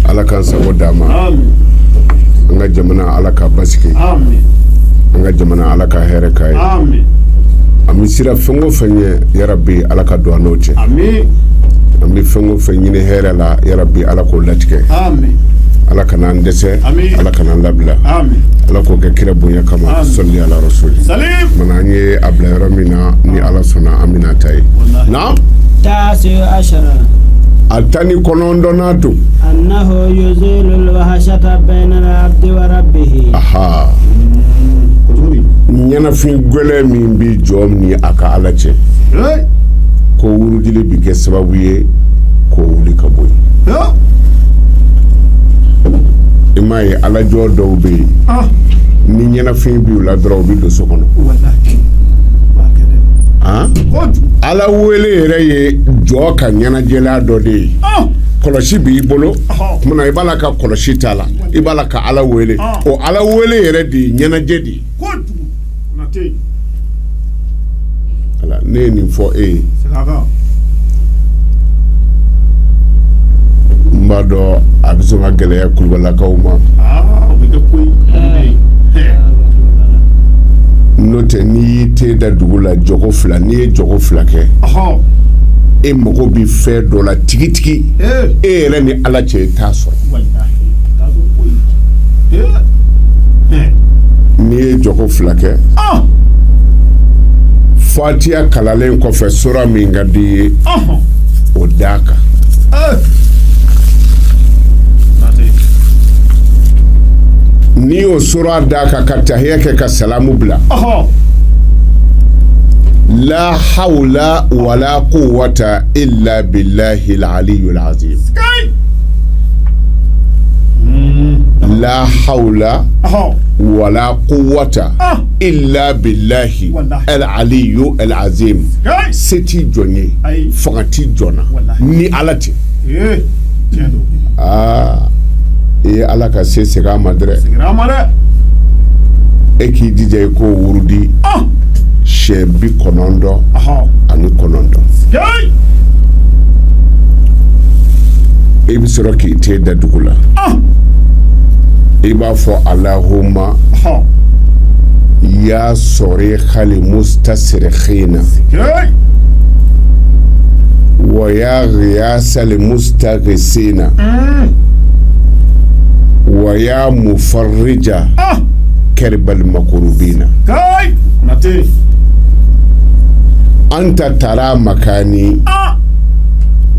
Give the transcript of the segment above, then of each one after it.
ala k'an sago d'an ma an ka jamana ala k'a basigi an ka jamana ala ka hɛrɛ k'a ye an bɛ siran fɛn o fɛn ɲɛ yarabi ala ka don an n'o cɛ an bɛ fɛn o fɛn ɲini hɛrɛ la yarabi ala k'o latigɛ ala kan'an dɛsɛ ala kana an labila ala k'o kɛ kira bonya kama sali ala rasuli mana an ye a bila yɔrɔ min na ni ala sɔnna an bɛn'a ta yen na a tan ni kɔnɔntɔnnan don ɲɛnafin gɛlɛn min bɛ jɔn ni a ka ala cɛ ko wurudi bɛ kɛ sababu ye k'o wuli ka bɔ yen i m'a ye alajɔn dɔw bɛ yen ni ɲɛnafin b'u la dɔrɔn u bɛ don so kɔnɔ ala wele yɛrɛ ye jɔn ka ɲɛnajɛlan dɔ de ye kɔlɔsi b'i bolo i b'a la ka kɔlɔsi tala i b'a la ka ala wele o ala wele yɛrɛ de ye ɲɛnajɛ de ye ne ye nin fɔ e ye n b'a dɔn a bɛ sɔn ka gɛlɛya kulubalakaw ma n'o tɛ n'i y'i ten da dugu la jɔko fila n'i ye jɔko fila kɛ e mago bɛ fɛn dɔ la tigitigi e yɛrɛ ni ala cɛ i t'a sɔrɔ n'i ye jɔ fila kɛ fatiya kalalen kɔfɛ sura min ka di i ye o d'a kan n'i y'o sura d'a kan ka tahiya kɛ ka salamu bila la hawla wala quwwata illa billahi al-aliyyil azim la hawla Ɔhɔn. wala quwwata Ah. illa billahi Wallahi. al aliyu al azim Hey. se tɛ jɔn ye Ayi. fanga tɛ jɔn na Wallahi. ni ala tɛ Ee. Tiɲɛ don. aa i ye ala ka se segin a ma dɛrɛ Segin a ma dɛ. e k'i jija i k'o wurudi Ah. siɲɛ bi kɔnɔntɔn ani kɔnɔntɔn i bɛ sɔrɔ k'i ten da dugu la i b'a fɔ allahumma ya sarikhal mustasrikhina wa ya ghiyasal mustaghisina wa ya mufarrija karbal makrubina anta tara makani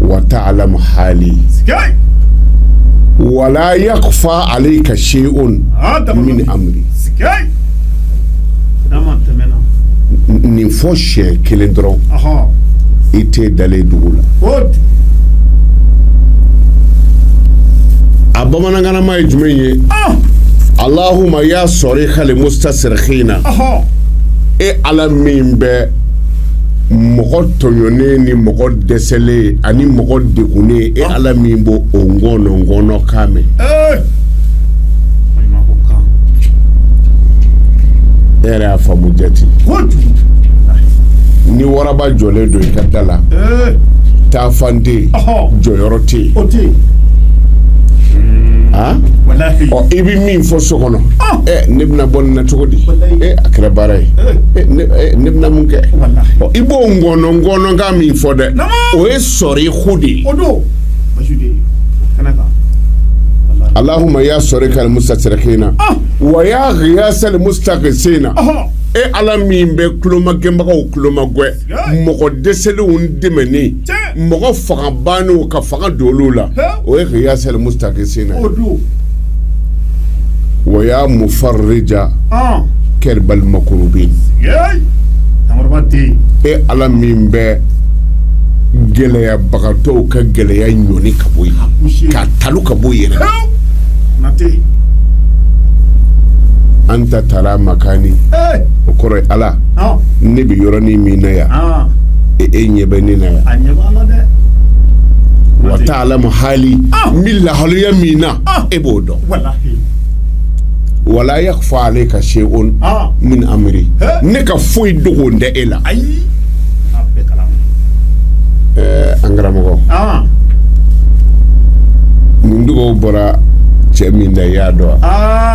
wa ta'lamu hali wa la yakhfa alayka shay'un min amri nin fɔ siɲɛ kelen dɔrɔn i tɛ dalen dugu la a bamanankan nama ye jumɛn ye allahumma ya sarikhal mustasrikhina e ala min bɛ mɔgɔ tɔɲɔnen ni mɔgɔ dɛsɛlen ani mɔgɔ degunnen e ala min b'o o ŋɔnɔ ŋɔnɔ kan mɛn e yɛrɛ y'a faamu jate ni waraba jɔlen don i ka da la taafan tɛ jɔyɔrɔ O tɛ yen. O tɛ yen. Han. Walahi. Ɔ i bɛ min fɔ so kɔnɔ. Ɔn. Ɛ ne bɛna bɔ nin na cogo di. Walahi. Ee a kɛra baara ye. Ee. Ee ne ee ne bɛna mun kɛ. Walahi. Ɔ i b'o ngɔnɔ ngɔnɔkan min fɔ dɛ. Naamu. O ye sarikhu de ye. O don. Basi de ye. Kana kan. Walahi. Allahumma ya sarikhal mustasrikhina. Ɔn. Wa ya ghiyasal mustaghisina. Ɔhɔn. E Ala min bɛ kulomagɛnbagaw kulomagɛn. mɔgɔ dɛsɛlenw dɛmɛni mɔgɔ fanga bannenw ka fanga don olu la o ye ghiyasal mustaghisina wa ya mufarrija karbal makrubin e ala min bɛ gɛlɛyabagatɔw ka gɛlɛya ɲɔni ka bɔ yen k'a talon ka bɔ yen anta tara makani o kɔrɔ ala ne bɛ yɔrɔnin min na yan e e ɲɛ bɛ ne na yan wa ta'lamu hali n bɛ lahalaya min na e b'o dɔn wa la yakhfa alayka shay'un min amri ne ka foyi dogolen tɛ e la an karamɔgɔ nin dugawu bɔra cɛ min da i y'a dɔn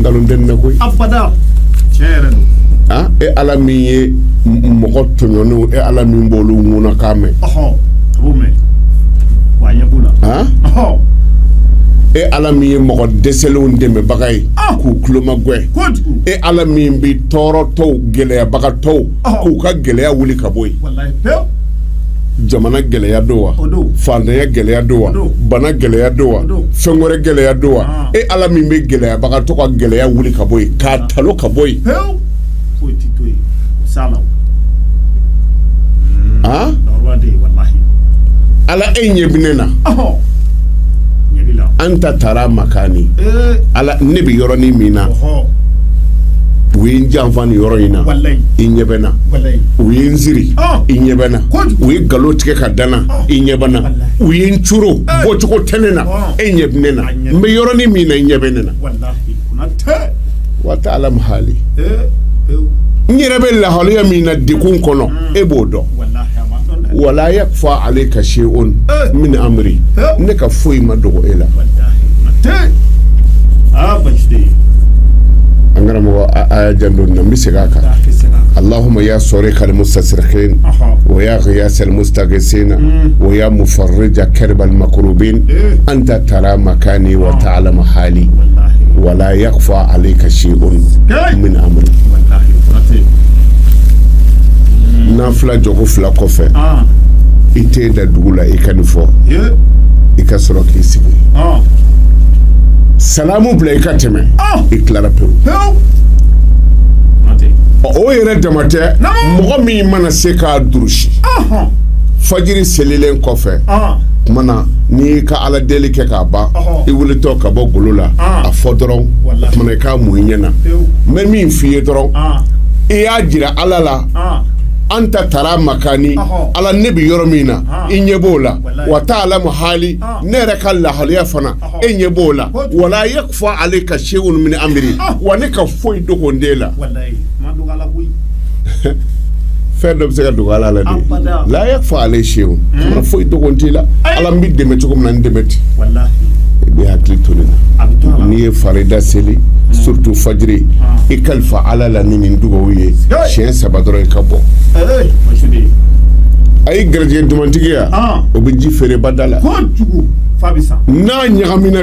nkalon tɛ na koyi abada tiɲɛ yɛrɛ don ah e ala min ye m- mɔgɔ tɔɲɔnenw e ala min b'olu ŋunakan mɛn ɔhɔ a b'o mɛn wa a ɲɛ b'o la ah ɔhɔ e ala min ye mɔgɔ dɛsɛlenw dɛmɛbaga ye Ah. k'u kulomagwɛ kojugu e ala min bɛ tɔɔrɔtɔw gɛlɛyabagatɔw k'u ka gɛlɛya wuli ka bɔ yen jamana gɛlɛya don wa faantanya gɛlɛya don wa bana gɛlɛya don wa fɛn wɛrɛ gɛlɛya don wa ah. e ala min bɛ gɛlɛyabagatɔ ka gɛlɛya wuli ka bɔ yen k'a talo ka bɔ yen ah? ala e ɲɛ bɛ ne na anta tara makani ne bɛ yɔrɔnin min na u ye n janfa nin yɔrɔ in na i ɲɛ bɛ n na u ye n siri i ɲɛ bɛ n na u ye nkalon tigɛ ka da n na i ɲɛ bɛ n na u ye n coron bɔcogo tɛ ne na e ɲɛ bɛ ne na n bɛ yɔrɔnin min na i ɲɛ bɛ ne na wa ta'lamu hali n yɛrɛ bɛ lahaliya min na degun kɔnɔ e b'o dɔn wala yakfa alayka shay'un min amri ne ka foyi ma dogo e la an karamɔgɔ a janto n na n bɛ segin a kan allahumma ya sarikal mustasrikhin wa ya ghiyasal mustaghithin wa ya mufarrija karbal makrubin anta tara makani wa ta'lamu hali wala yakfa alayka shay'un min amri nafila jɔko fila kɔfɛ ah. i ten da dugu la i ka nin fɔ i ka sɔrɔ k'i sigi ah. salamu bila i ka tɛmɛ ah. i tilara pewu o yɛrɛ dama tɛ mɔgɔ min mana se k'a durusi fajiri selilen kɔfɛ tuma na n'i ka ala deli kɛ k'a ban i wulitɔ ka bɔ golo la a fɔ dɔrɔn kuma na i k'a mun i ɲɛ na n bɛ min f' i ye dɔrɔn i y'a jira ala la anta tara makani ala ne bɛ yɔrɔ min na i ɲɛ b'o la wa ta'lamu hali ne yɛrɛ ka lahaliya fana e ɲɛ b'o la wala yakfa alayka shay'un min amri ah. wa ne ka foyi dogolen t'e la fɛn dɔ bɛ se ka dogo ala la de la yakfa alayka shay'un hmm. foyi dogolen t'i la ala n bɛ dɛmɛ cogo min na n dɛmɛ ten i bɛ hakili to nin na n'i ye farida seli hmm. surtout fajiri ah. i kalifa ala la ni nin dugawu ye siɲɛ saba dɔrɔn i ka bɔ a ye garijɛgɛ dumantigi ya ah. o bɛ ji feere bada la n'a ɲagamina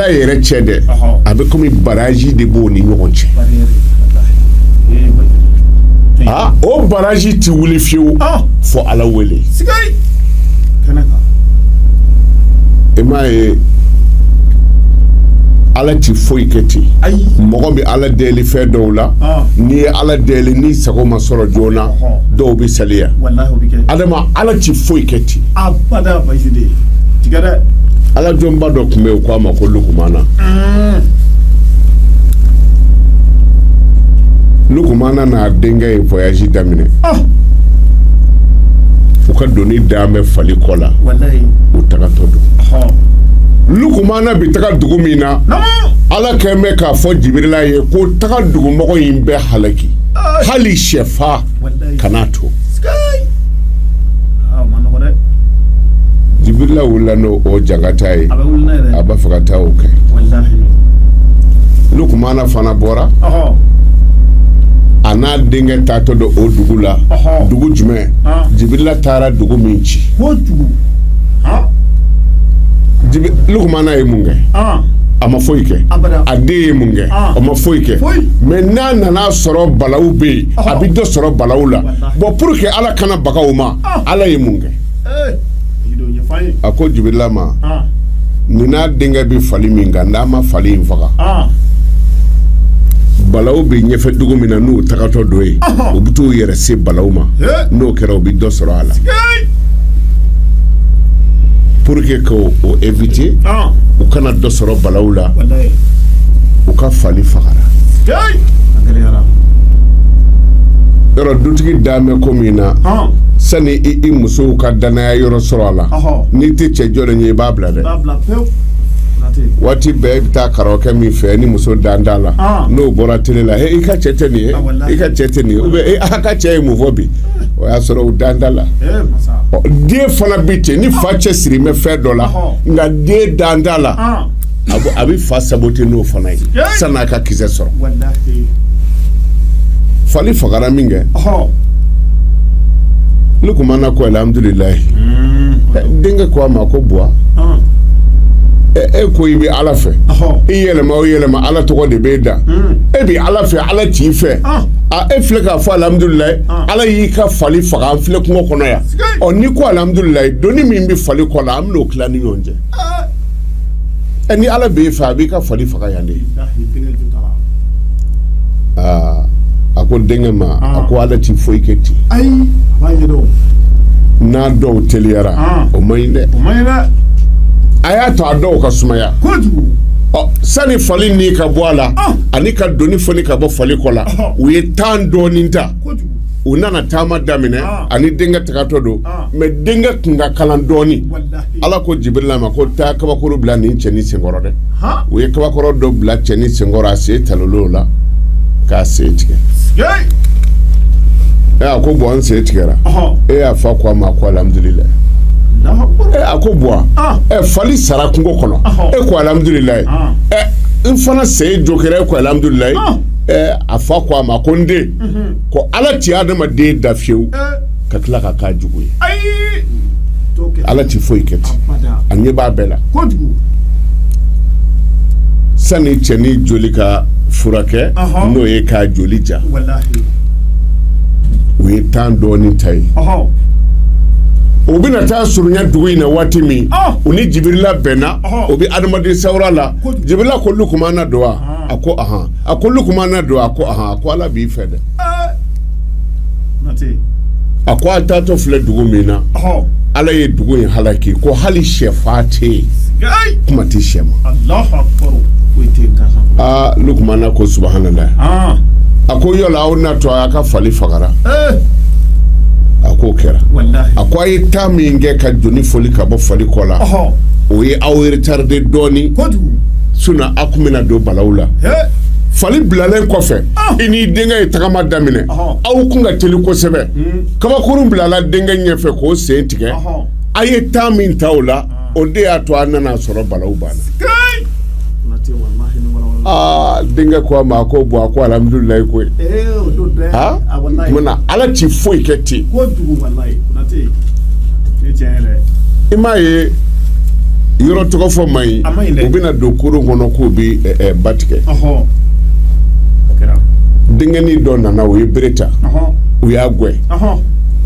ala yɛrɛ cɛ dɛ a bɛ kɔmi barazi de b'o ni ɲɔgɔn cɛ aa o barazi tɛ wuli fiyewu fo ala wele i m'a ye ala tɛ foyi kɛ ten mɔgɔ bɛ ala deli fɛn dɔw la n'i ye ala deli n'i sago ma sɔrɔ joona dɔw bɛ saliya adama ala tɛ foyi kɛ ten a bada basi de tigɛ dɛ ala jɔnba dɔ tun bɛ yen k'a ma ko lukumana lukumana n'a denkɛ ye voyage daminɛ ah. u ka doni dan bɛ fali kɔ la u tagatɔ don lukumana bi taga dugu min na ala kɛn bɛ k'a fɔ jibirila ye ko taga dugumɔgɔ in bɛɛ halaki hali sɛfan kana to jibirila wulila n'o o jangata ye a b'a fɛ ka taa o kɛ lukumana fana bɔra a n'a denkɛ taatɔ don o dugu la dugu jumɛn jibirila taara dugu min ci lukumana ye mun kɛ a ma foyi kɛ a den ye mun kɛ o ma foyi kɛ mais n'a nana sɔrɔ balaw bɛ yen a bɛ dɔ sɔrɔ balaw la bon pour que ala kana baga u ma ala ye mun kɛ a ko jibirila ma nin n'a denkɛ bɛ fali min kan n'a ma fali in faga balaw bɛ ɲɛfɛ dugu min na n'u tagatɔ don yen u bɛ t'u yɛrɛ se balaw ma n'o kɛra u bɛ dɔ sɔrɔ a la pour que k'o éviter u kana dɔ sɔrɔ balaw la u ka fali fagara yɔrɔ dutigi dan bɛ ko min na Ɔn. sani i musow ka danaya yɔrɔ sɔrɔ a la Ɔhɔ. n'i tɛ cɛ jɔlen ye i b'a bila dɛ B'a bila pewu. Nati. waati bɛɛ i bɛ taa karamɔgɔkɛ min fɛ ni muso dan t'a la Ɔn. n'o bɔra tele la he i ka cɛ tɛ nin ye Ah, walahi. i ka cɛ tɛ nin ye ou bien e a ka cɛ ye mun fɔ bi o y'a sɔrɔ u dan t'a la Ee masa. Ɔ, den fana bɛ ten ni fa cɛ sirin bɛ fɛn dɔ la Ɔhɔ. nka den dan t'a la Ɔn. a bɛ fa saboter n'o fana ye san'a ka kisɛ sɔrɔ fali fagara min kɛ lukumana ko alamidulilayi mm. denkɛ ko a ma ko buwa e ko i bɛ ala fɛ i yɛlɛma o yɛlɛma ala tɔgɔ de b'e da mm. e bɛ ala fɛ ala t'i fɛ e filɛ k'a fɔ alamidulilayi ala y'i ka fali faga an filɛ kungo kɔnɔ yan ɔ n'i ko alamidulilayi doni min bɛ fali kɔ la an bɛn'o tila ni ɲɔgɔn cɛ ɛ ni Ala b'e fɛ a b'i ka fali faga yan de bilahi denkɛ jo t'a la aa a ko denkɛ ma a Aa. ko Ala ti foyi kɛ ten ayi a b'a ye dɛ o n'a dɔw teliyara Aa. o man ɲi dɛ o man ɲi dɛ a y'a to a dɔw ka sumaya kojugu ɔ sani fali ni ka bɔ a la Aa. ani ka doni foni ka bɔ fali kɔ la Ɔhɔ. u ye tan dɔɔni ta kojugu u nana taama daminɛ Aa. a ni denkɛ tagatɔ don Aa. mais denkɛ kun ka kalan dɔɔni walayi ala ko jibirila ma ko taa kabakurun bila nin cɛnin sen kɔrɔ dɛ o ye kabakurun dɔ bila cɛnin sen kɔrɔ a sen talonna o la k'a sen tigɛ ɛ a ko buwa n sen tigɛra e a fa ko a ma ko alhamudulilayi a ko buwa fali sara kungo kɔnɔ e ko alhamudulilayi n fana sen jogira e ko alhamudulilayi a fa ko a ma ko n den ko ala ti adamaden dan fiyewu ka tila ka k'a jugu ye ala tɛ foyi kɛ ten a ɲɛ b'a bɛɛ la sani cɛnin joli ka furakɛ n'o ye k'a joli ja u ye tan dɔɔnin ta yen u bɛna taa surunya dugu in na waati min u ni jibirila bɛnna o bɛ adamaden sawura la jibirila ko lukumana don wa a ko a ko lukumana don a ko a ko ala b'i fɛ dɛ a ko a taatɔ filɛ dugu min na ala ye dugu in halaki ko hali shɛfan tɛ yen kuma tɛ shɛ ma aa lukumana ko subahanalayi ah. a ko yɔrɔ aw na to a y'a ka fali fagara eh. a k'o kɛra a ko a ye tan min kɛ ka doni foni ka bɔ fali kɔ la o ye aw retarder dɔɔnin sinon kun bɛna don balawu la fali bilalen kɔfɛ ah. i n'i denkɛ ye tagama daminɛ aw kun ka teli kosɛbɛ hmm. kabakurun bilala denkɛ ɲɛfɛ k'o sen tigɛ a ye tan min ta o la ah. o de y'a to a nana sɔrɔ balawu banna aa denkɛ ko a ma ko buwa ko alhamudulilayi koyi eh, tumana ala ti foyi kɛ ten i m'a ye yɔrɔ tɔgɔ fɔ man ɲi u bɛna don kurun kɔnɔ k'u bɛ ba tigɛ denkɛnin dɔ nana o ye bere ta u y'a gɛn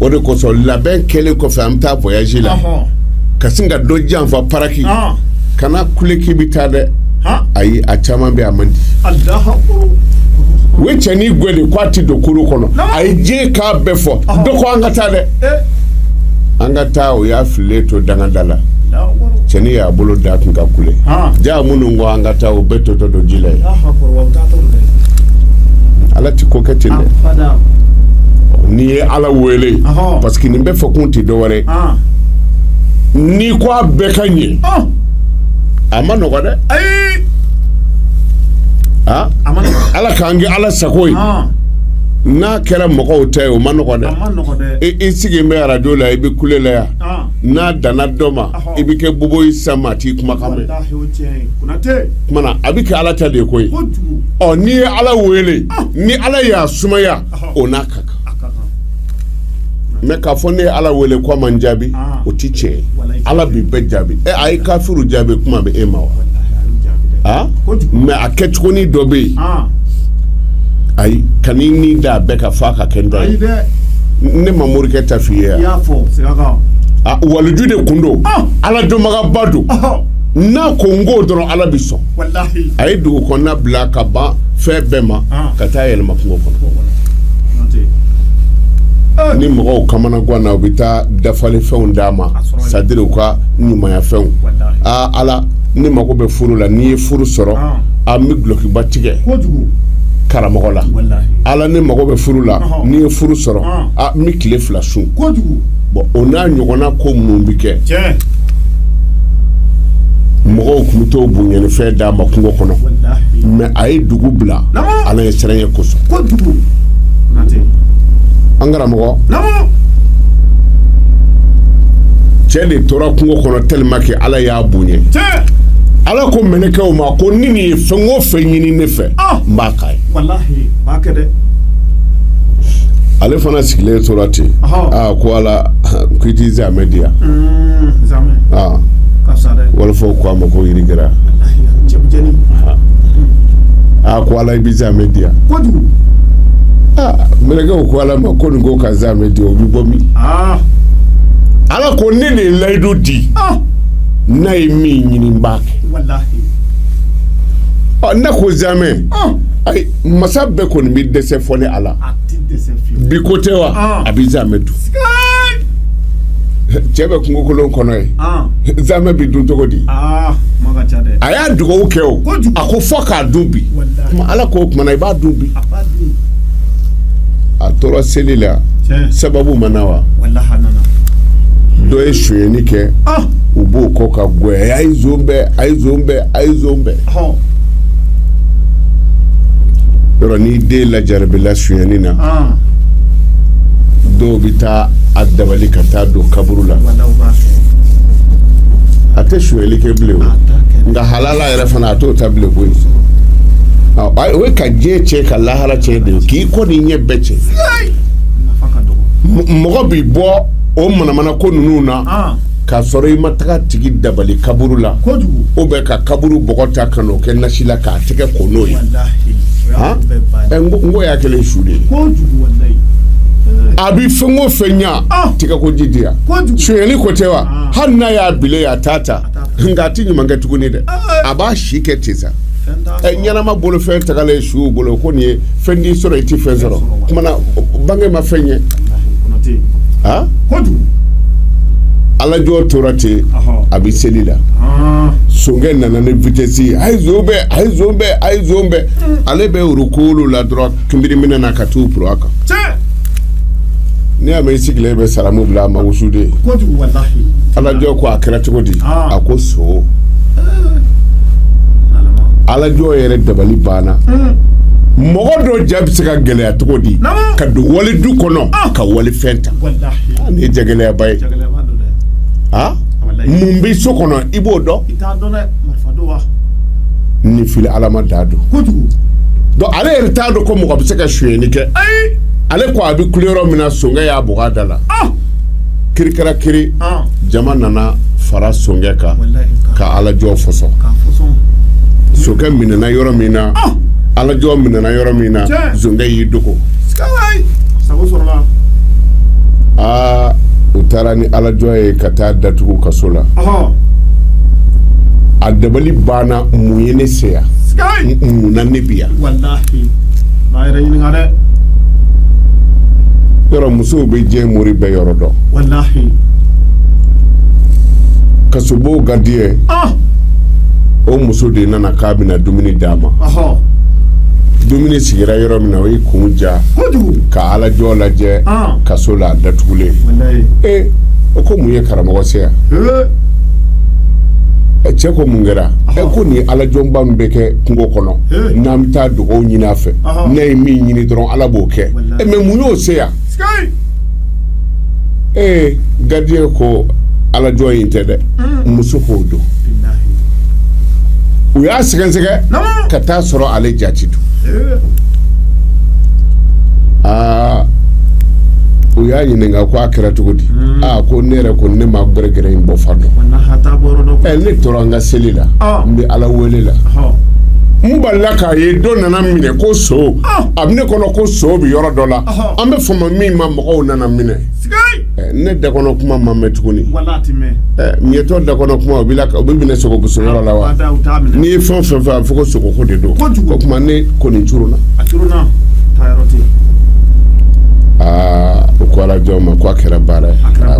o de kosɔn labɛn kɛlen kɔfɛ an bɛ taa voyage la ka sin ka dɔ janfa paraki kana kule k'i bɛ taa dɛ ayi a caman bɛ a man di u ye cɛnin gɛn de k'a tɛ don kurun kɔnɔ a ye diɲɛ k'a bɛɛ fɔ dɔ ko an ka taa dɛ an ka taa o y'a fililen to dankan da la cɛnin y'a bolo da kun ka kule jaa minnu ko an ka taa o bɛɛ totɔ don ji la yen ala tɛ ko kɛ ten dɛ n'i ye ala wele parce que nin bɛɛ fɔkun tɛ dɔwɛrɛ n'i ko a bɛɛ ka ɲɛ a ma nɔgɔ dɛ ala k'a kɛ ala sago ye kɛra mɔgɔw ta ye o ma nɔgɔ dɛ i sigi bɛ arajo la i bɛ kule la yan n'a danna dɔ ma i bɛ kɛ bobo ye sa maa t'i kumakan mɛn a bɛ kɛ ala ta de ye koyi ɔ n'i ye ala wele ni ala y'a sumaya o n'a ka kan mɛ k'a fɔ ne ye ala wele ko a ma n jaabi ah. o tɛ tiɲɛ ye ala bɛ bɛɛ jaabi ɛ a ye kafiri jaabi kuma bɛ e ma wa ah? mɛ a kɛcogonin dɔ bɛ yen ah. ayi ka n'i ni da a bɛɛ ka fa ka kɛ dɔ ye ne ma morikɛ ta f'i ye yan waliju de tun don ala dɔnbagaba don n'a ko n k'o dɔrɔn ala bɛ sɔn a ye dugu kɔnɔna bila ka ban fɛn bɛɛ ma ka taa yɛlɛma kungo kɔnɔ ni mɔgɔw kamana ganna u bɛ taa dafalen fɛnw d'a ma sadiri u ka ɲumanya fɛnw aa ala ne mago bɛ furu la ni n ye furu sɔrɔ an bɛ dulɔkiba tigɛ karamɔgɔ la ala ne mago bɛ furu la ni n ye furu sɔrɔ n bɛ tile fila sun bɔn o n'a ɲɔgɔnna ko minnu bɛ kɛ mɔgɔw tun bɛ to bonyafɛn d'a ma kungo kɔnɔ mɛ a ye dugu bila ala ɲɛsiranɲɛ kosɔn an karamɔgɔ cɛ de tora kungo kɔnɔ tellement que ala y'a bonya ala ko mɛlɛkɛw ma ko ni nin ye fɛn o fɛn ɲini ne fɛ ale fana sigilen tora ten ko ala ko i tɛ zamɛ di yan wɔlɔfɔw ko a ma ko riz gras aa ko ala i bɛ zamɛ di yan mɛlɛkɛw ko ala ma ko nin ko ka zamɛ di o bɛ bɔ min ala ko ne de ye layidu di n'a ye min ɲini n b'a kɛ ne ko zamɛ ayi masa bɛɛ kɔni bɛ dɛsɛ fɔ ni ala bi ko tɛ wa a bɛ zamɛ dun cɛ bɛ kungokolon kɔnɔ ye zamɛ bɛ dun cogo di a y'a dugawu kɛ o a ko fɔ k'a dun bi ala ko o tuma na i b'a dun bi a tora seli la sababu ma na wa dɔ ye sonyani kɛ ah! u b'o kɔ k'a gɛn a ye zon bɛn a ye zon bɛn a ye zon bɛn yɔrɔ n'i den lajarabila sonyani na ah! dɔw bɛ taa a dabali ka taa don kaburu la a tɛ sonyali kɛ bilen nka hala la yɛrɛ fana a t'o ta bilen koyi o ye ka diɲɛ cɛn ka lahara cɛn de ye k'i kɔ ni ɲɛ bɛɛ cɛn mɔgɔ b'i bɔ o manamana ko ninnu na ah. k'a sɔrɔ i ma taga a tigi dabali kaburu la ou bien ka kaburu bɔgɔ ta ka n'o kɛ nasi la k'a tɛgɛ ko n'o ye n ko y'a kɛlen su de ye a bɛ fɛn o fɛn ɲa ah. tɛgɛ ko ji di yan sonyali ko tɛ wa ah. hali n'a y'a bila a t'a ta nka a tɛ ɲuman kɛ tuguni dɛ a b'a si kɛ ten sa ɛ ɲɛnama bolo fɛn tagalen ye suw bolo ko nin ye fɛn t'i sɔrɔ i tɛ fɛn sɔrɔ o kumana bange ma fɛn ye a ala jɔn tora ten a bɛ seli la sonkɛ nana ni vitesse ye a ye zon bɛn a ye zon bɛn a ye zon bɛn ale bɛ ruku la dɔrɔn kunbiri minɛ na ka t'u puru a kan n' y'a mɛn i sigilen bɛ salamu bila a ma wusuden ala jɔn ko a kɛra cogo di a ko son ala jɔn yɛrɛ dabali banna mɔgɔ dɔ ja bɛ se ka gɛlɛya cogo di ka don wali du kɔnɔ ka wali fɛn ta nin ye jagɛlɛyaba ye mun bɛ so kɔnɔ i b'o dɔn i t'a dɔn dɛ marifa don wa ni fili ala ma da don kojugu donc ale yɛrɛ t'a dɔn ko mɔgɔ bɛ se ka sonyɛni kɛ ayi ale ko a bɛ kule yɔrɔ min na sonkɛ y'a bugɔ a da la ah kiri kɛra kiri ah jama nana fara sonkɛ kan walayi ka ka ala jɔn fɔsɔn ka fɔsɔn sonkɛ minɛna yɔrɔ min na ah ala jɔn minɛna yɔrɔ min na Tiɲɛ. zonkɛ y'i dogo sikalayi sago sɔrɔla aa u taara ni ala jɔn ye ka t'a datugu kaso la a dabali banna mun ye ne se yan mun na ne bɛ yan yɔrɔ musow bɛ diɲɛ mori bɛɛ yɔrɔ dɔn kasobon gardien ah! o muso de nana k'a bɛna dumuni d'a ma dumuni sigira yɔrɔ min na o y'i kun ja ka ala jɔn lajɛ ah! kaso la a datugulen ee o ko mun ye karamɔgɔ se yan cɛ ko mun kɛra e ko nin ala jɔnba min bɛ kɛ kungo kɔnɔ n'an bɛ taa dugawu ɲini a fɛ n'a ye min ɲini dɔrɔn ala b'o kɛ e mais mun y'o se yan ee gardien ko ala jɔn in tɛ dɛ muso k'o don u y'a sɛgɛsɛgɛ ka t'a sɔrɔ ale jati don aa u y'a ɲininka ko a kɛra cogo di hmm. aa ko ne yɛrɛ ko ne ma gɛrɛgɛrɛ in bɔ fan dɔn ne tora n ka seli la ah. n bɛ ala wele la n balila k'a ye dɔ nana n minɛ ko son ah. a bɛ ne kɔnɔ ko son bɛ yɔrɔ dɔ la an bɛ fama min ma mɔgɔw nana n minɛ ne da kɔnɔ kuma ma mɛn tuguni miyɛtɔ da kɔnɔ kuma bɛ mɛn sogo bɔsɔ yɔrɔ la wa n'i ye fɛn fɛn fɔ a fɔ ko sogoko de don o tuma ne kɔni curuna aa u ko ala jɔn ma ko a kɛra baara ye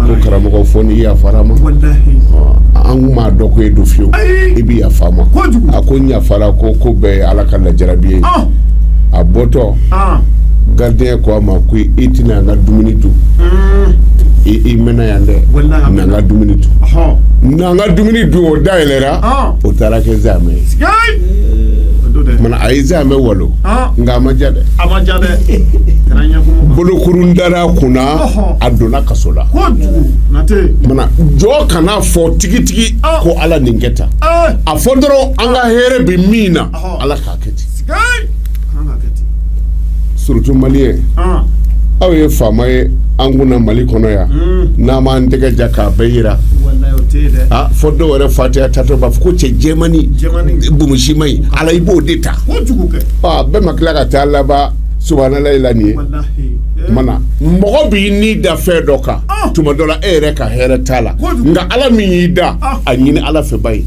ko karamɔgɔ fo n'i yafara an ma an kun m'a dɔn ko e don fiyewu i bɛ yafa an ma a ko n yafara ko ko bɛɛ ye ala ka lajarabi ye a bɔtɔ gardien ko a ma ko i tɛna an ka dumuni dun i mɛnna yan dɛ n'an ka dumuni dun n'an ka dumuni dun o da yɛlɛra o taara kɛ zamɛ ye a ye zamɛ walo nka a ma ja dɛ bolokurun dara kunna a donna kaso la jɔn kana fɔ tigitigi ko ala nin kɛ tan a fɔ dɔrɔn an ka hɛrɛ bɛ min na ala k'a kɛ ten surtout maliyɛn aw ye faama ye an kunna mali kɔnɔ yan hmm. n'an b'an tɛgɛ ja k'a bɛɛ jira ah, fɔ dɔw yɛrɛ fatiya tatɔ b'a fɔ ko cɛ jɛmani bumusima ye ala i b'o de ta ah, bɛɛ ma tila ka taa laban subanalayi la nin ye mana mɔgɔ b'i ni da fɛn dɔ kan ah. tuma dɔ la e yɛrɛ ka hɛrɛ t'a la nka ala min y'i dan a ɲini ala fɛ ba ye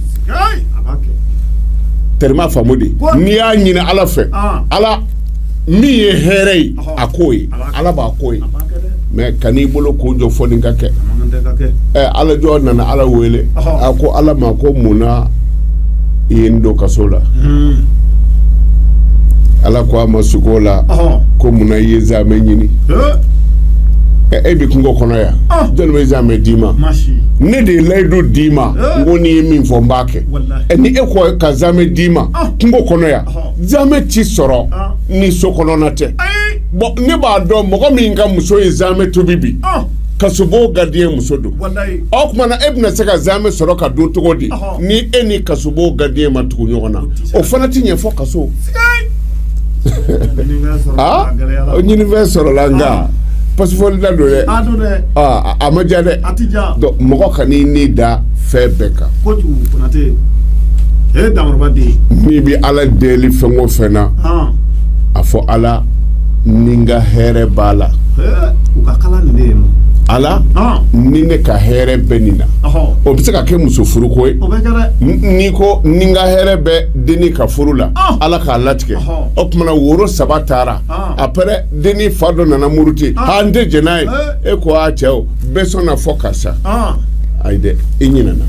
terme faamu de n'i y'a ɲini ala fɛ ala min ye hɛrɛ ye a k'o ye ala b'a k'o ye mais kan'i bolo ko jɔ fo nin ka kɛ ala jɔn nana ala wele a ko ala ma ko munna i ye n don kaso la hmm. ala ko a ma sugo la ko munna i ye zamɛ ɲini e bɛ kungo kɔnɔ yan jɔn bɛ zamɛ d'i ma ne de ye layidu d'i ma n ko n'i ye min fɔ n b'a kɛ ɛ ni e ko ka zaamɛ d'i ma kungo kɔnɔ yan zaamɛ tɛ sɔrɔ ni so kɔnɔna tɛ bɔn ne b'a dɔn mɔgɔ min ka muso ye zaamɛ tobi bi kasobon gardien muso don o tumana e bɛna se ka zaamɛ sɔrɔ ka dun cogo di ni e ni kasobon gardien ma tugu ɲɔgɔn na o fana tɛ ɲɛ fo kaso ah? ɲinifɛn sɔrɔla nka pasifɔli da don dɛ ah, a ma diya dɛ mɔgɔ kan'i ni da fɛn bɛɛ kan n'i bɛ ala deli fɛn o fɛn na ah. a fɔ ala ni n ka hɛrɛ b'a la ala ni ne ka hɛrɛ bɛ nin na o bɛ se ka kɛ muso furuko ye n'i ko ni n ka hɛrɛ bɛ dennin ka furu la ala k'a latigɛ o tumana woro saba taara après dennin fa dɔ nana muruti k'an tɛ jɛn n'a ye e ko a cɛ o bɛɛ sɔnna fo karisa ayi dɛ e ɲinɛna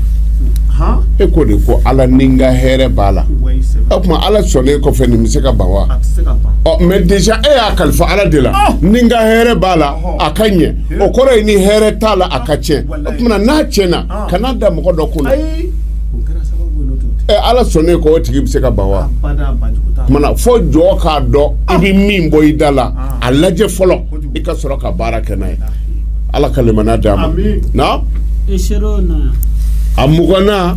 e ko de ko ala ni n ka hɛrɛ b'a la o tuma ala sɔnnen kɔfɛ nin bɛ se ka ban wa ɔ mais déjà e y'a kalifa ala de la ni n ka hɛrɛ b'a la a ka ɲɛ o kɔrɔ ye ni hɛrɛ t'a la a ka tiɲɛ o tuma n'a tiɲɛna kan'a da mɔgɔ dɔ kunna ala sɔnnen kɔ o tigi bɛ se ka ban wa fo jɔn k'a dɔn i bɛ min bɔ i da la a lajɛ fɔlɔ i ka sɔrɔ ka baara kɛ n'a ye ala ka limaniya d'an ma a muganna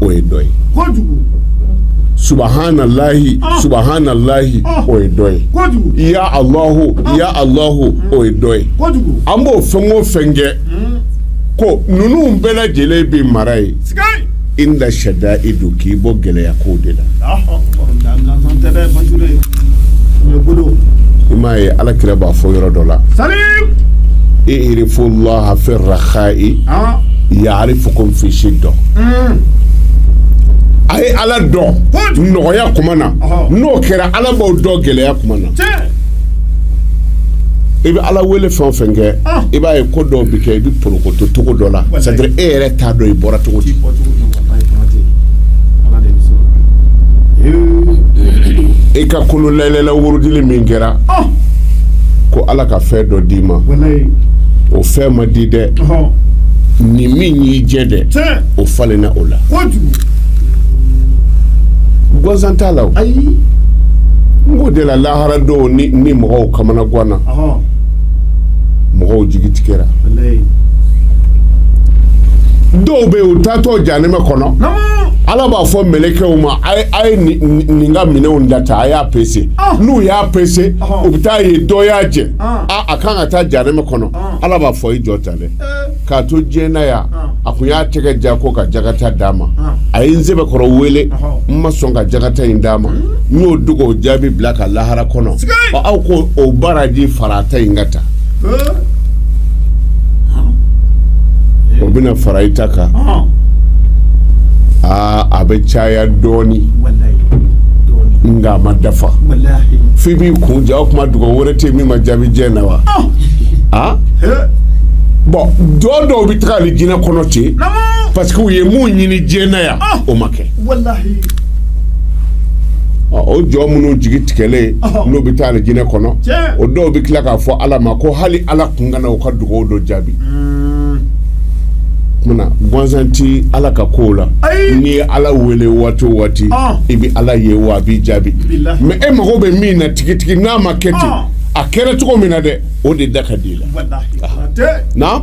o ye dɔ ye subahana lahi ah. subahana lahi ah. o ye dɔ ye ya alahu ah. ya alahu o ye dɔ ye an b'o fɛn o fɛn kɛ hmm. ko ninnu bɛɛ lajɛlen bɛ mara i ye inda shadaidu k'i bɔ gɛlɛya kow de la. i m'a ye ala kira b'a fɔ yɔrɔ dɔ la. salimu. irifu laha fi rahayi. yarifukumu fi shida a ye ala dɔn nɔgɔya kuma na n'o kɛra ala b'aw dɔn gɛlɛya kuma na i bɛ ala wele fɛn o fɛn kɛ i b'a ye ko dɔw bɛ kɛ i bɛ porokoto cogo dɔ la c'est à dire e yɛrɛ t'a dɔn i bɔra cogo di i ka kunun layilala wurudili min kɛra ko ala ka fɛn dɔ d'i ma o fɛn ma di dɛ nin min y'i jɛ dɛ o falenna o la gansan t'a la ayi n k'o de la lahara don ni ni mɔgɔw kamanaganna mɔgɔw jigi tigɛra dɔw bɛ yen u taatɔ janɛmɛ kɔnɔ ala b'a fɔ mɛlɛkɛw ma a ye nin ka minɛnw data a y'a pese n'u y'a pese u bɛ t'a ye dɔ y'a jɛ a kan ka taa janɛmɛ kɔnɔ ala b'a fɔ i jɔ tan dɛ k'a to diɲɛ na yan a tun y'a tɛgɛ ja ko ka jakata d'a ma a ye n sɛbɛkɔrɔ wele n ma sɔn ka jakata in d'a ma n y'o dugawu jaabi bila ka lahara kɔnɔ aw k'o baraji fara a ta in kan tan o bɛna fara i ta kan aa a bɛ caya dɔɔni nka a ma dafa f'i b'i kun ja o kuma dugawu wɛrɛ tɛ min ma jaabi diɲɛ na wa aa bɔn jɔn dɔw bɛ taga alijinɛ kɔnɔ ten parce que u ye mun ɲini diɲɛ na yan o ma kɛ o jɔn minnu jigi tigɛlen n'u bɛ taa alijinɛ kɔnɔ o dɔw bɛ tila k'a fɔ ala ma ko hali ala kun kana u ka dugawu dɔ jaabi gansan tɛ ala ka ko la n'i ye ala wele waati o waati i bɛ ala ye wa a b'i jaabi mais e mago bɛ min na tigitigi n'a ma kɛ ten a kɛra cogo min na dɛ o de da ka di i la na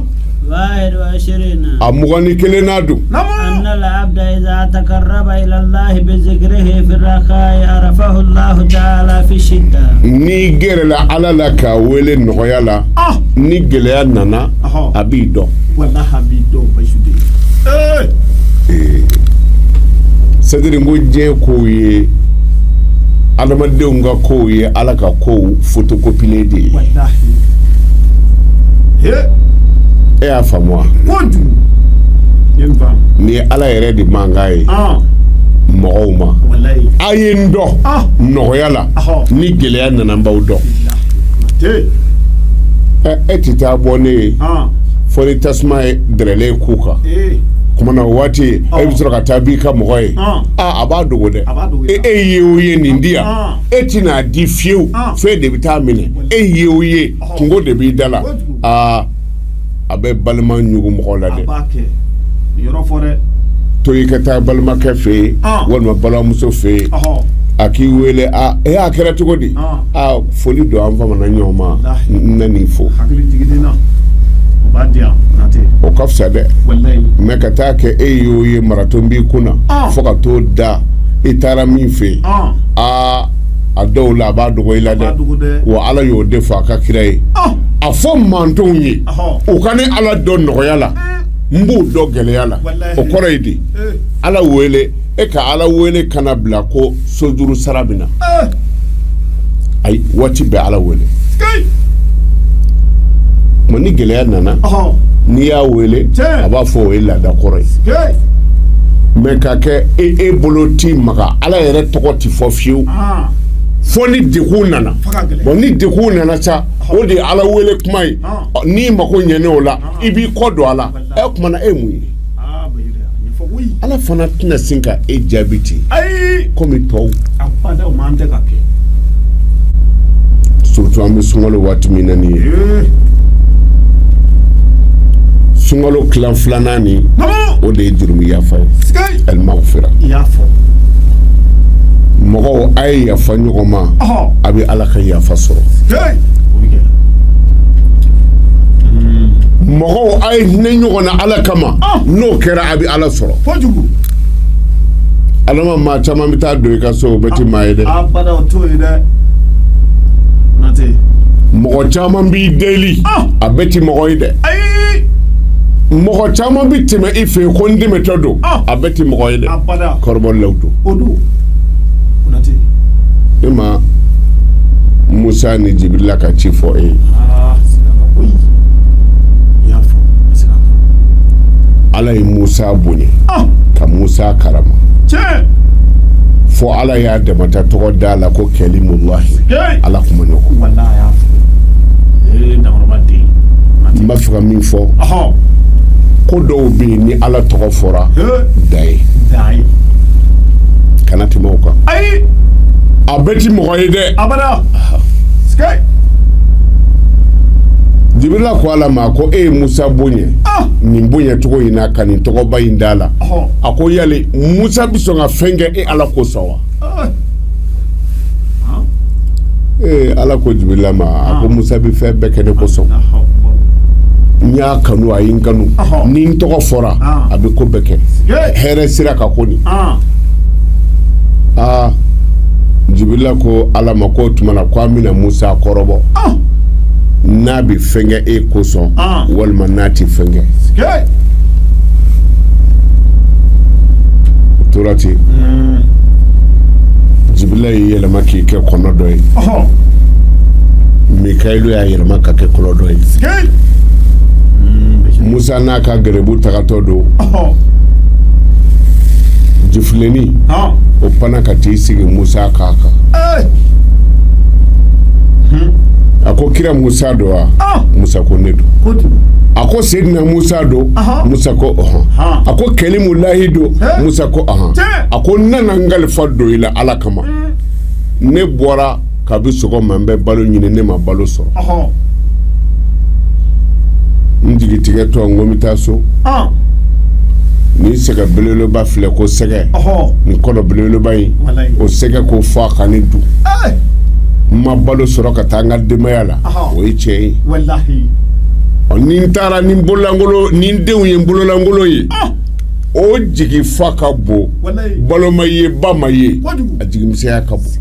a mugan ni kelennan don n'i gɛrɛla ala la k'a wele nɔgɔya la ni gɛlɛya nana Ɔhɔn. a b'i dɔn c'est-à-dire n ko diɲɛ kow ye adamadenw ka kow ye ala ka kow fotokopilen de ye wala he e y'a faamu wa ni ala yɛrɛ de mankan ye ɔn mɔgɔw ma wala ye. a ye n dɔn Ah. nɔgɔya la ni gɛlɛya nana n b'aw dɔn e tɛ taa bɔ ne ye fo ni tasuma ye dɛrɛlen ko kan tumana o waati e bɛ sɔrɔ ka taa b'i ka mɔgɔ ye a b'a dogo dɛ e e ye o ye nin di yan e tɛn'a di fiyewu f'e de bɛ taa minɛ e ye o ye kunko de b'i da la a bɛ balima ɲugun mɔgɔ la dɛ to i ka taa balimakɛ fɛ yen walima balimamuso fɛ yen a k'i wele ee a kɛra cogo di foli don an famana ɲɔgɔn ma n nan'i fo o ka fisa dɛ mɛ ka taa kɛ e y'o ye maraton b'i kun na fo ka t'o da i taara min fɛ yen aa a dɔw la a b'a dogo i la dɛ wa ala y'o de fɔ a ka kira ye fɔ mantɔnw ye u ka ne ala dɔn nɔgɔya la n b'u dɔn gɛlɛya la o kɔrɔ ye di ala wele e ka ala wele kana bila ko sojuru sara bɛ na ayi waati bɛɛ ala wele ma ni gɛlɛya nana n'i y'a wele a b'a fɔ o ye laada kɔrɔ ye mɛ ka kɛ e e bolo t'i maga ala yɛrɛ tɔgɔ tɛ fɔ fiyewu fo ni degun nana ni degun nana sa o de ye ala wele kuma ye n'i mako ɲɛna o la i b'i kɔ don a la ɛ o tumana e mun ye ala fana tɛna sin ka e jaabi ten komi tɔw surtout an bɛ sunkalo waati min na nin ye sunkalo tilan filanan nin o de ye jurumu yafa ye alimagfira mɔgɔw a ye yafa ɲɔgɔn ma a bɛ ala ka yafa sɔrɔ mɔgɔw a ye hinɛ ɲɔgɔn na ala kama ah. n'o kɛra a bɛ ala sɔrɔ ala ma maa caman bɛ taa don i ka so o bɛɛ ti maa ye dɛ ah, mɔgɔ caman b'i deli ah. a bɛɛ ti mɔgɔ ye dɛ mɔgɔ caman bɛ tɛmɛ i fɛ yen ko n dɛmɛtɔ don a bɛɛ ti mɔgɔ ye dɛ kɔrɔbɔ la don o don e ma musa ni jibirila ka ci fɔ e ye ala ye musa bonya ka musa karama fo ala y'a dama ta tɔgɔ d'a la ko kɛlimulahi ala kuma ɲɔgɔn n b'a fɛ ka min fɔ ko dɔw bɛ yen ni ala tɔgɔ fɔra da ye kana tɛmɛ o kan ayi a bɛɛ ti mɔgɔ ye dɛ abada jibirila ko ala ma ko e ye musa bonya ah! nin bonya cogo in na ka nin tɔgɔba in d'a la a ko yali musa bɛ sɔn ka fɛn kɛ e ala kosɔn wa Ee ala ko jibirila ma a ko musa bɛ fɛn bɛɛ kɛ ne kosɔn n y'a kanu a ye n kanu ni n tɔgɔ fɔra a bɛ ko bɛɛ kɛ hɛrɛ sira kan kɔni aa jibirila ko ala ma ko o tuma na ko an bɛna musa kɔrɔbɔ n'a bɛ fɛn kɛ e kosɔn walima n'a tɛ fɛn kɛ o tora ten jibirila y'i yɛlɛma k'i kɛ kɔnɔ dɔ ye mikayilu y'a yɛlɛma k'a kɛ kɔnɔ dɔ ye musa n'a ka gɛrɛbu tagatɔ don jifilenni o panna ka t'i sigi musa kan kan a ko kira musa don wa ah! musa ko ne don a ko sedina musa don musa ko ɔhɔn a ko kɛlimulahi don musa ko ɔhɔn a ko n nana n kalifa don i la ala kama mm. ne bɔra kabi sɔgɔma n bɛ balo ɲini ne ma balo sɔrɔ n jigitigɛtɔ n ko n bɛ taa so. Ah! nin sɛgɛ belebeleba filɛ ko sɛgɛ nin kɔnɔ belebeleba in o sɛgɛ ko fo a ka ne dun n ma balo sɔrɔ ka taa n ka denbaya la o ye tiɲɛ ye ɔ ni n taara ni n bololankolon ni n denw ye n bololankolon ye ah! o jigi fa ka bon balo ma ye ba ma ye a jigimisɛnya ka bon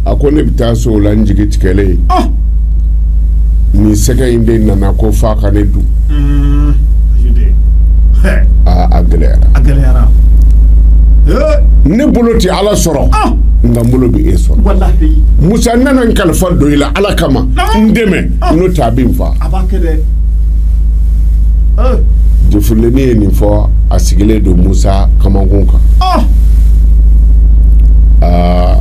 a ko ne bɛ taa so o la n jigi tigɛlen ye ah! nin sɛgɛ in de nana ko f'a ka ne dun mm. a gɛlɛyara ne bolo tɛ ala sɔrɔ nka n bolo bɛ e sɔrɔ musa nana n kalifa don i la ala kama n dɛmɛ n'o tɛ a bɛ n faa jɛfuleni ye nin fɔ a sigilen don musa kamankun kan aa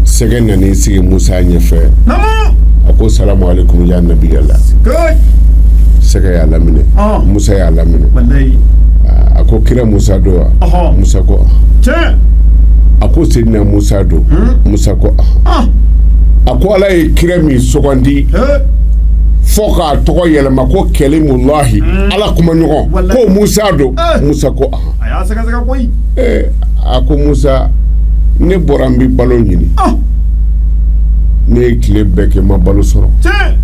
sɛgɛ nana i sigi musa ɲɛfɛ a ko salamu aleykum ya nabiyala sɛgɛ y'a laminɛ musa y'a laminɛ a ko kira musa don wa Ɔhɔn. musa ko ah. tiɲɛ a ko seyidina musa don musa ko ah. a ko ala ye kira min sugandi ee fo k'a tɔgɔ yɛlɛma ko kɛlimulahi ala kuma ɲɔgɔn Walayi. ko musa don Eh. musa ko ah. a y'a sɛgɛsɛgɛ koyi Eh, a ko musa ne bɔra n bɛ balo ɲini Ah. ne ye tile bɛɛ kɛ n ma balo sɔrɔ tiɲɛ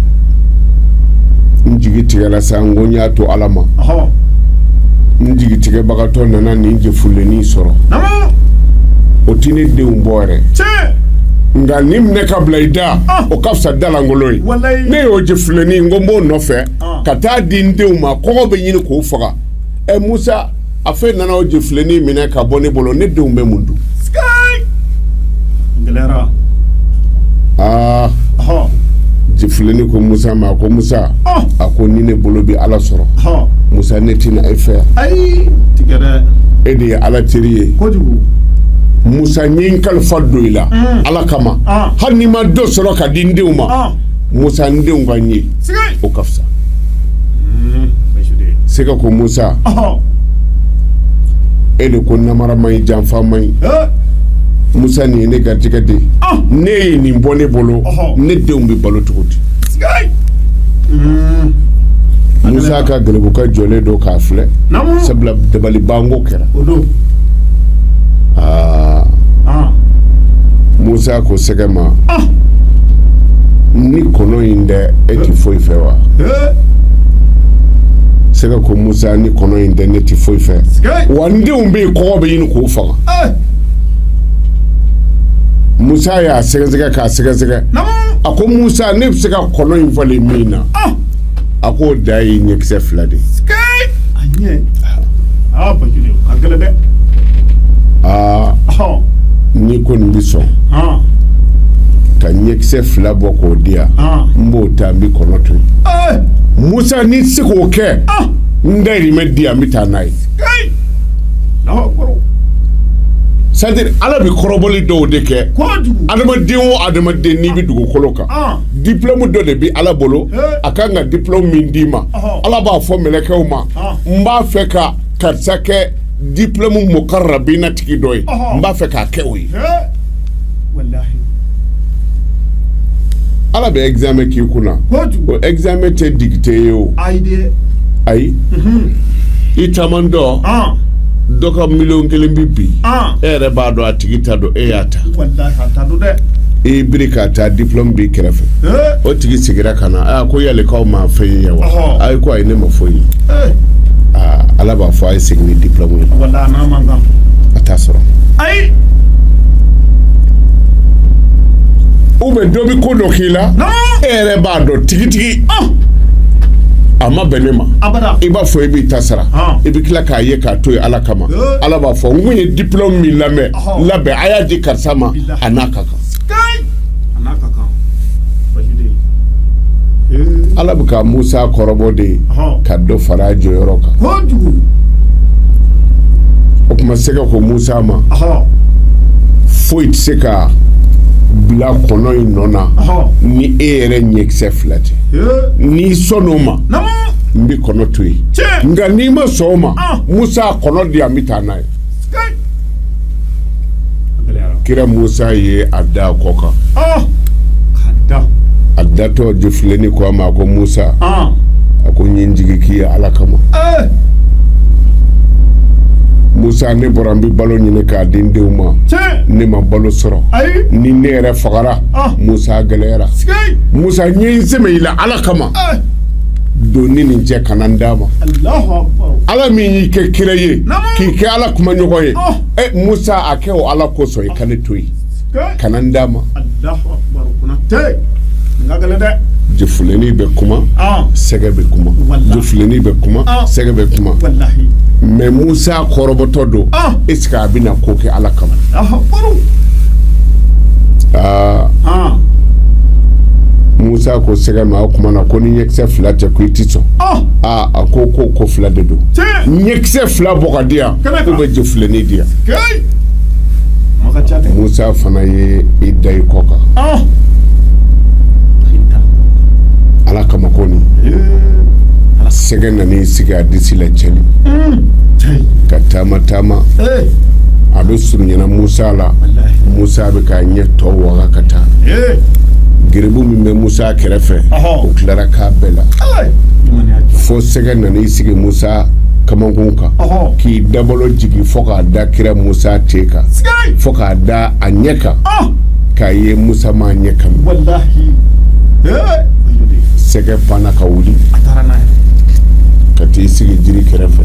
n jigi tigɛra sa n ko n y'a to ala ma n jigitigɛbagatɔ nana nin jɛfuleni sɔrɔ o tɛ ne denw bɔ yɛrɛ nka nin minɛ ka bila i da ah. o ka fisa da lankolon ye ne y'o jɛfuleni n ko n b'o nɔfɛ ah. ka taa di n denw ma kɔngɔ bɛ ɲini k'o faga ɛ musa a fɛ nana o jifilenin minɛ ka bɔ ne bolo ne denw bɛ mun dun gɛlɛyara aa hɔn jifilenin ko musa ma a ko musa Ɔn. a ko ni ne bolo bɛ ala sɔrɔ hɔn musa ne tɛ na e fɛ yan ayi tiɲɛ dɛ e de ye ala teri ye kojugu musa n ye n kalifa don i la ala kama Ɔn. hali ni n ma dɔ sɔrɔ ka di n denw ma ɔn musa n denw ka n ye o ka fisa sɛgɛ ko musa e de ko namara man ɲi janfa man ɲi musa nin ye ne garijɛgɛ de n'e ye nin bɔ ne bolo ne denw bɛ balo cogo di musa ka gɛlɛbuka jɔlen don k'a filɛ sabula dabalibanko kɛra musa ko sɛgɛ ma ni kɔnɔ in tɛ e tɛ foyi fɛ wa sɛgɛ ko musa ni kɔnɔ in tɛ ne tɛ foyi fɛ wa n denw bɛ yen kɔngɔ bɛ ɲini k'o faga musa y'a sɛgɛsɛgɛ k'a sɛgɛsɛgɛ a ko musa ne bɛ se ka kɔnɔ in falen mun na a ko da ye ɲɛkisɛ fila de ye a ɲɛ aa n'i kɔni bɛ sɔn ka ɲɛkisɛ fila bɔ k'o di yan n b'o ta n bɛ kɔnɔ to yen musa n'i tɛ se k'o kɛ n dayirimɛ di yan n bɛ taa n'a ye c'est-à-dire ala bɛ kɔrɔbɔli dɔw de kɛ adamaden o adamaden n'i bɛ dugukolo kan diplôme dɔ de bɛ ala bolo a kan ka diplôme min d'i ma ala b'a fɔ mɛlɛkɛw ma n b'a fɛ ka karisa kɛ diplôme mukarrabina tigi dɔ ye n b'a fɛ k'a kɛ o ye ala bɛ examen k'i kunna o examen tɛ dictée ye o ayi mhm. i taamatɔ dɔ ka miliyɔn kelen bɛ bin e yɛrɛ b'a dɔn a tigi t'a dɔn e y'a ta i biri k'a ta diplôme b'i kɛrɛfɛ o tigi sigira ka na ko yali k'aw ma fɛn ye yan wa ayi ko ayi ne ma foyi ye ala b'a fɔ a ye segin ni diplôme ye a t'a sɔrɔ ayi ou bien dɔ bɛ ko dɔ k'i la e yɛrɛ b'a dɔn tigitigi a ma bɛn ne ma i b'a fɔ i b'i ta sara i bɛ tila k'a ye k'a to yen ala kama ala b'a fɔ n kun ye diplôme min labɛn labɛn a y'a di karisa ma a n'a ka kan ala bɛ ka musa kɔrɔbɔ de ye ka dɔ fara a jɔyɔrɔ kan o tuma sɛgɛ ko musa ma foyi tɛ se ka bila kɔnɔ in nɔ na ni e yɛrɛ ɲɛkisɛ fila tɛ n'i sɔn o ma n bɛ kɔnɔ to yen nka n'i ma sɔn o ma musa kɔnɔ di an bɛ taa n'a ye kira musa ye a da kɔ kan a datɔ jɔfilenni ko a ma a ko musa a ko n ye n jigi k'i ye ala kama musa ne bɔra n bɛ balo ɲini k'a di n denw ma ne ma balo sɔrɔ ni ne yɛrɛ fagara musa gɛlɛyara musa n ye n sɛmɛ i la ala kama don n ni nin cɛ kana n d'a ma ala min y'i kɛ kira ye k'i kɛ ala kuma ɲɔgɔn ye e musa a kɛ o ala kosɔn i ka ne to yen kana n d'a ma jɔfilenni bɛ kuma sɛgɛ bɛ kuma jɔfilenni bɛ kuma sɛgɛ bɛ kuma mais musa kɔrɔbɔtɔ don est-ce que a bɛna ko kɛ ala kama aa musa ko sɛgɛ ma o tuma na ko ni ɲɛkisɛ fila tɛ ko i tɛ sɔn a ko ko ko fila de don ɲɛkisɛ fila bɔ k'a di yan ou bien jɔfilenni di yan musa fana ye i da i kɔ kan ah! ala kama ko nin sɛgɛ nan'i sigi a disi la cɛli hmm. ka taama taama a bɛ surunyana musa la musa bɛ k'a ɲɛ tɔ waga ka taa geribu min bɛ musa a kɛrɛfɛ u tilara k'a bɛɛ la fo sɛgɛ nan'i sigi musa kamankun kan k'i dabolo jigin fo k'a da kira musa te kan fo k'a da a ɲɛ kan k'a ye musa ma ɲɛ kɔmi sɛgɛ panna ka wuli ka t'i sigi jiri kɛrɛfɛ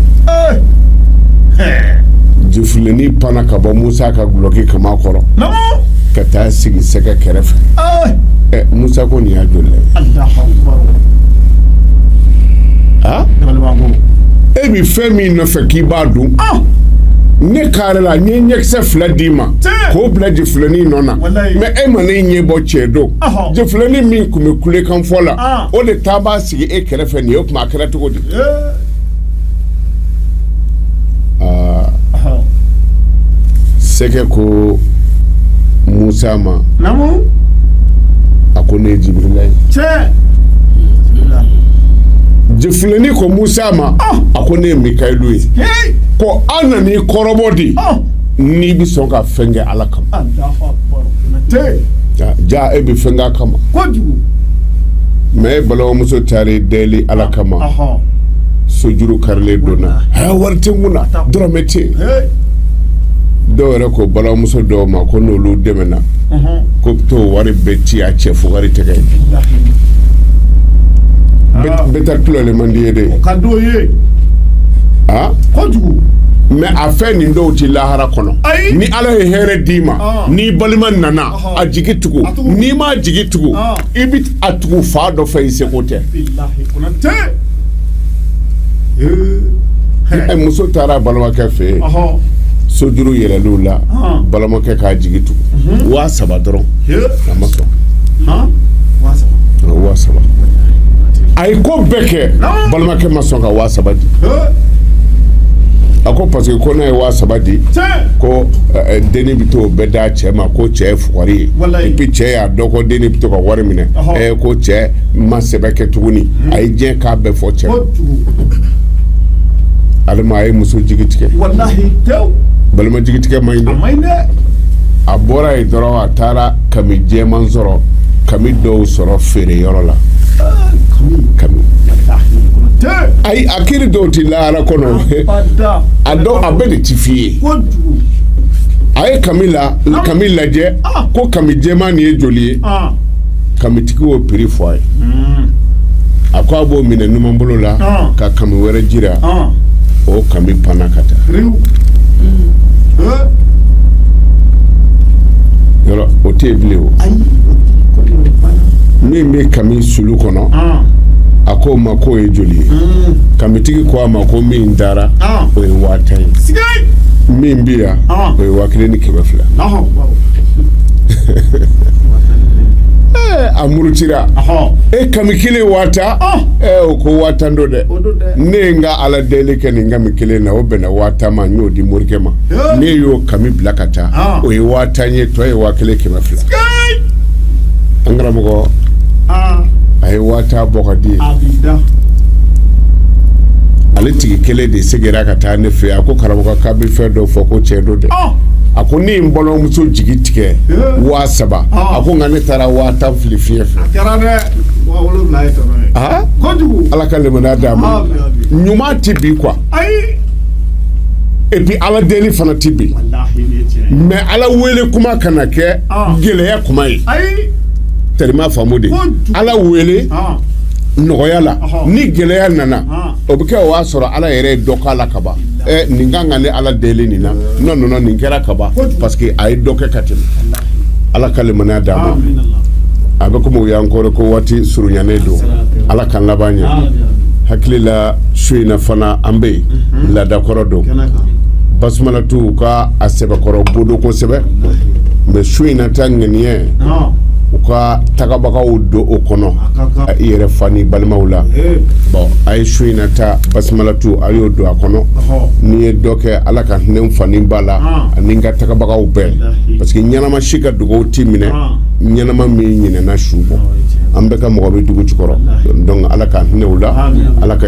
jifilenin panna ka bɔ musa ka gulɔki kaman kɔrɔ ka taa sigi sɛgɛ kɛrɛfɛ musa ko nin y'a joli e bɛ fɛn min nɔfɛ k'i b'a dun ne kɛrɛ la n ye ɲɛkisɛ fila d'i ma k'o bila jifilenin nɔ na mais e ma ne ɲɛ bɔ cɛ don jifilenin min tun bɛ kulekan fɔ la o de taa b'a sigi e kɛrɛfɛ nin ye o tuma a kɛra cogo di aa sɛgɛ ko musa ma a ko ne ye jibirila ye jifilenin ko musa ma a ko ne ye mikayilu ye ko an nan'i kɔrɔbɔ de n'i bɛ sɔn ka fɛn kɛ ala kama ja e bɛ fɛn k'a kama mais e balimamuso taar'i deli ala kama sojuru karilen don n na wari tɛ n kun na dɔrɔmɛ tɛ dɔw yɛrɛ ko balimamuso dɔw ma ko n'olu dɛmɛna ko bɛ t'o wari bɛɛ ci a cɛ fo wari tɛgɛ bɛ taa tulalen man di ye de ye mais a fɛn n dɔw tɛ lahara kɔnɔ Ayi. ni ala ye hɛrɛ d'i ma Ah. n'i balima nana Ɔhɔ. a jigi tugu A tugu. n'i m'a jigi tugu Ah. i bɛ a tugu fan dɔ fɛ i seko tɛ bilahi kɔnɔ tɛ Ɛ, muso taara a balimakɛ fɛ yen ɔhɔ sojuru yɛlɛl'u la Ah. balimakɛ k'a jigi tugu waa saba dɔrɔn he a ma sɔn han waa saba waa saba a ye ko bɛɛ kɛ Ah. balimakɛ ma sɔn ka waa saba di a ko parce que ko n'a ye waa saba di ko eh, eh, denni bɛ t'o bɛɛ d'a cɛ ma ko cɛ ye fugari ye Walayi. et puis cɛ y'a dɔn ko denni bɛ to ka wari minɛ Ɔhɔ. ɛ ko cɛ ma sɛbɛ kɛ tuguni a ye diɲɛ k'a bɛɛ fɔ cɛ ale ma a ye muso jigi tigɛ walahi tew balima jigi tigɛ man ɲi a dɛ man ɲi dɛ a bɔra yen dɔrɔn a a taara kami jɛman sɔrɔ kami dɔw sɔrɔ feere yɔrɔ la kami ayi a kiri dɔw tɛ lahara kɔnɔ a dɔw a bɛɛ de ti f'i ye a ye kami la kami lajɛ ko kami jɛman nin ye joli ye kamitigi y'o prix fɔ a ye mm. a ko a b'o minɛ numanbolo la ah. ka kami wɛrɛ jira ah. o kami panna ka taa mm. eh? yɔrɔ o tɛ yen bilen o min bɛ kami sulu kɔnɔ ah. a ko o ma k'o ye joli ye mm. kamitigi ko a ma ko min taara o ye waa tan ye min bɛ yan o ye waa kelen ni kɛmɛ fila a murutira e kami kelen waa tan o ko waa tan don dɛ ne ye n ka ala deli kɛ nin kami kelen na o bɛnna waa tan ma n y'o di morikɛ ma ne y'o kami bila ka taa o ye waa tan ye tɔ ye waa kelen kɛmɛ fila an karamɔgɔ a ye waa tan bɔ k'a di ale tigi kelen de seginna ka taa ne fɛ a ko karamɔgɔ k'a bɛ fɛn dɔ fɔ ko cɛn don dɛ a ko ne ye n balimamuso jigi tigɛ waa saba a ko nka ne taara waa tan fili fiɲɛ fɛ ala ka limaniya d'a ma ɲuman tɛ bin quoi et puis ala deli fana tɛ bin mais ala wele kuma kana kɛ gɛlɛya kuma ye teri i m'a faamu dɛ ala wele nɔgɔya la ni gɛlɛya nana o bɛ kɛ o y'a sɔrɔ ala yɛrɛ ye dɔ k'a la kaban nin ka kan ni ala deli nin na non nin kɛra kaban parce que a ye dɔ kɛ ka tɛmɛ ala ka limaniya d'a ma a bɛ komi y'an kɔrɔ ko waati surunyannen don ala k'an laban ɲɛ hakili la su in na fana an bɛ yen mhm. laadakɔrɔ don basumalatu ka a sɛbɛkɔrɔ bodo kosɛbɛ mais su in na ta ŋaniya u ka tagabagaw don o kɔnɔ i yɛrɛ fa ni balimaw la bon a ye su in na ta basumalatu a y'o don a kɔnɔ n'i ye dɔ kɛ ala ka hinɛ fa ni ba la ani n ka tagabagaw bɛɛ parce que ɲɛnama si ka dugaw tɛ minɛ ɲɛnama min ɲinɛna su bɔ an bɛɛ ka mɔgɔ bɛ dugu jukɔrɔ ala ka hinɛ u la ala ka